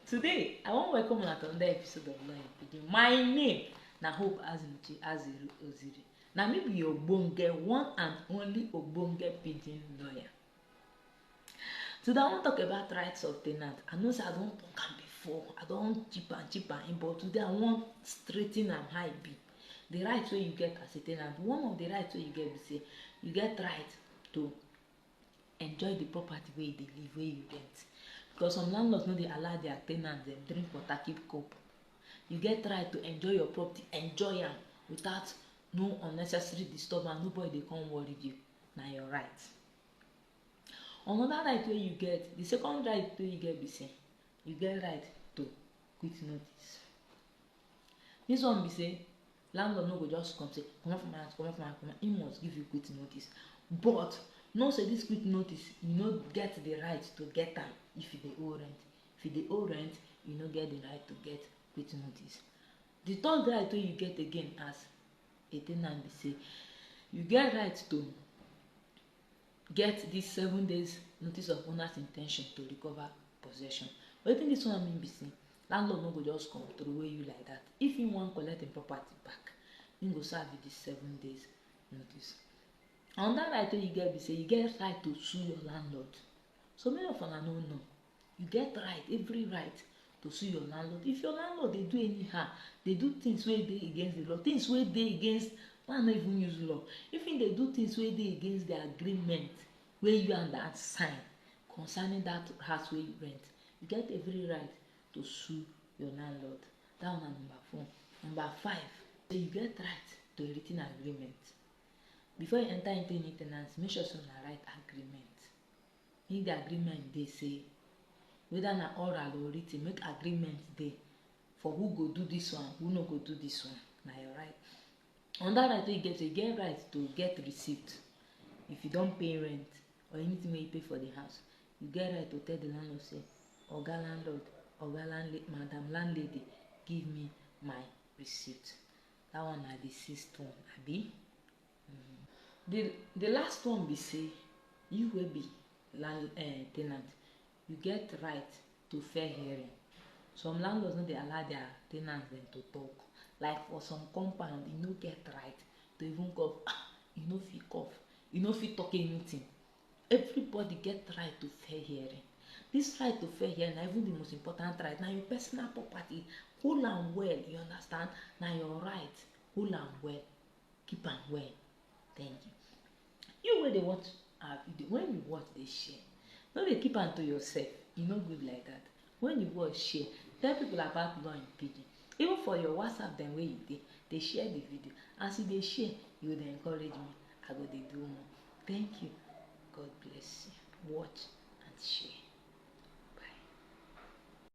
Today, I wan welcome una to another episode of Learn Pidgin. My name na Hope Azimuchi Aziru Oziri. Na me be your ogbonge one and only ogbonge pidgin lawyer. Today, I wan talk about rights of tenant. I know say I don talk am before, I don chip am chip am in, but today I wan straighten am how e be. The right wey you get as a tenant, one of the rights wey you get be say you get right to enjoy the property wey you dey live wey you rent because some landlords no dey allow their ten ants dem drink water keep cup you get right to enjoy your property enjoy am without no unnecessary disturbance nobody dey come worry you na your right another right wey you get the second right wey you get be say you get right to quit notice this one be say Landlord no go just come say comot for my house, comot for my house, comot, he must give you quit notice. But know say this quit notice, you no get the right to get am if you dey owe rent. If you dey owe rent, you no get the right to get quit notice. The third right wey you get again as a ten ant be say you get right to get dis seven days notice of owner's intention to recover possession wetin dis one mean be say landlord no go just come throway you like that if he wan collect him property back he go serve you dis seven days notice another right wey you get be say you get right to sue your landlord so many of una no know You get right, every right to sue your landlord. If your landlord dey do anyhow, dey do things wey dey against the law, things wey dey against why I no even use law. If he dey do things wey dey against the agreement wey you and that sign concerning that house wey you rent, you get every right to sue your landlord. That one na number four. Number five, say you get right to a written agreement. Before you enter into any tenancy, make sure say una write agreement. Make di agreement dey say weda na oral or written make agreement dey for who go do dis one who no go do dis one na your right anoda right wey you get you get right to get receipt if you don pay rent or anything wey you pay for di house you get right to tell di landlord say oga landlord oga landlady madam landlady give me my receipt dat one na di sixth one abi Di di last one be say you wey be land um ten ant you get right to fair hearing. Some landlords no dey allow dia ten ants dem to tok like for some compound you no get right to even cough um you no fit cough you no fit tok anytin everybody get right to fair hearing dis right to fair hearing na even di most important right na your personal property hold am well you understand na your right hold am well. keep am well thank you you wey dey watch our video when you watch dey share no dey keep am to yourself e no good like that when you watch share tell people about law in pidgin even for your whatsapp dem wey you dey dey share the video as you dey share you go dey encourage me i go dey do more thank you god bless you watch and share